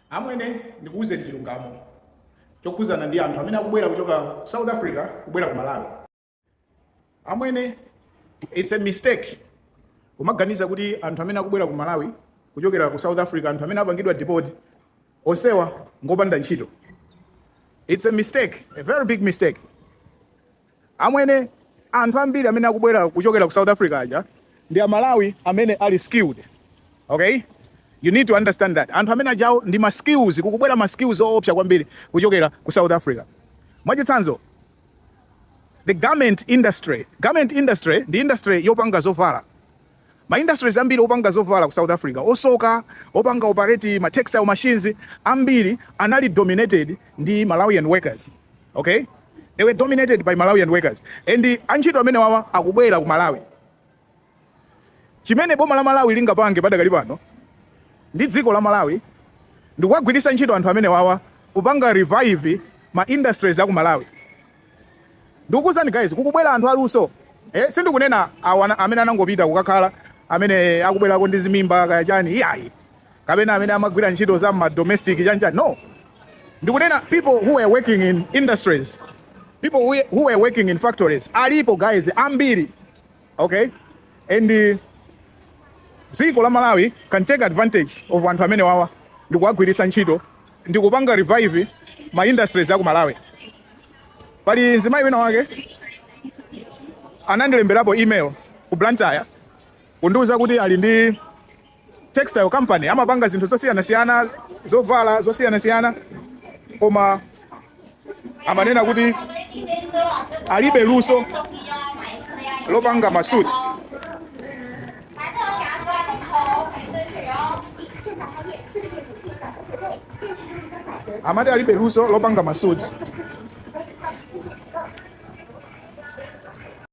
Amwene ndikuuzeni chilungamo chokhuzana ndi anthu amene akubwera kuchoka South Africa kubwera ku Malawi. Amwene it's a mistake kumaganiza kuti anthu amene akubwera ku Malawi kuchokera ku South Africa, anthu amene apangidwa deport onsewa ngopanda ntchito. It's a mistake, a very big mistake. Amwene, anthu ambiri amene akubwera kuchokera ku South Africa aja ndi a Malawi amene ali skilled. Okay? You need to understand that. Anthu amene aja awo ndi ma skills, kukubwera ma skills oopsa kwambiri kuchokera ku South Africa. Mwachitsanzo, the garment industry. Garment industry ndi industry yopanga zovala. Ma industries ambiri opanga zovala ku South Africa, osoka, opanga operate ma textile machines, ambiri anali dominated ndi Malawian workers, ok, they were dominated by Malawian workers and antchito amenewawa akubwera ku Malawi. Chimene boma la Malawi lingapange padakali pano ndi dziko la Malawi ndikuwagwiritsa ntchito anthu amenewawa kupanga revive ma industries a ku Malawi. Ndikukuuzani guys kukubwera anthu aluso eh, sindikunena awa ana- amene anangopita kukakhala amene akubwerako ndi zimimba kaya chani iyayi kapena amene amagwira ntchito za ma domestic chani chani no ndikunena people who were working in industries people who who were working in factories alipo guys ambiri Ok and dziko la Malawi can take advantage of anthu amenewawa ndikuwagwiritsa ntchito ndikupanga revive ma industries aku Malawi. Pali mzimayi wina wake anandilemberapo email ku Blantyre kundiuza kuti ali ndi textile company amapanga zinthu zosiyanasiyana zovala zosiyanasiyana koma amanena kuti alibe luso lopanga masuti amati alibe luso lopanga masuti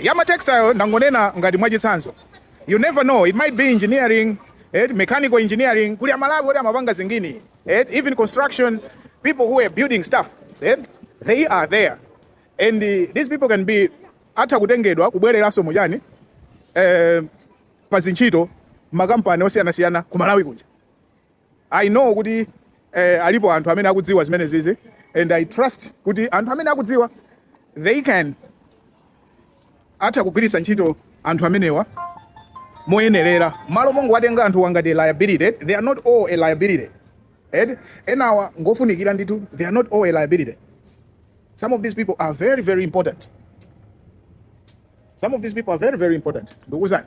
ya ma textile ndangonena ngati mwachitsanzo you never know it might be engineering eti mechanical engineering kuli amalawi oti amapanga zingini eti even construction people who are building stuff eti they are there and uh, these people can be atha kutengedwa kubwereranso mujani eh, pa zintchito makampani osiyanasiyana ku malawi kuja I know kuti eh, alipo anthu amene akudziwa zimenezizi and I trust kuti anthu amene akudziwa they can atha kugwiritsa ntchito anthu amenewa moyenerera malo mongowatenga anthuwa ngati liability they are not all a liability eh enawa ngofunikira ndithu they are not all a liability some of these people are very very important some of these people are very very important ndikuuzani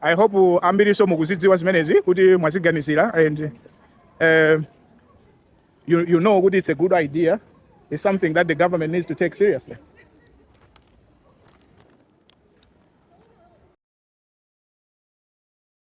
I hope ambirinso mukuzidziwa zimenezi kuti mwaziganizira and uh, you, you know kuti it's a good idea it's something that the government needs to take seriously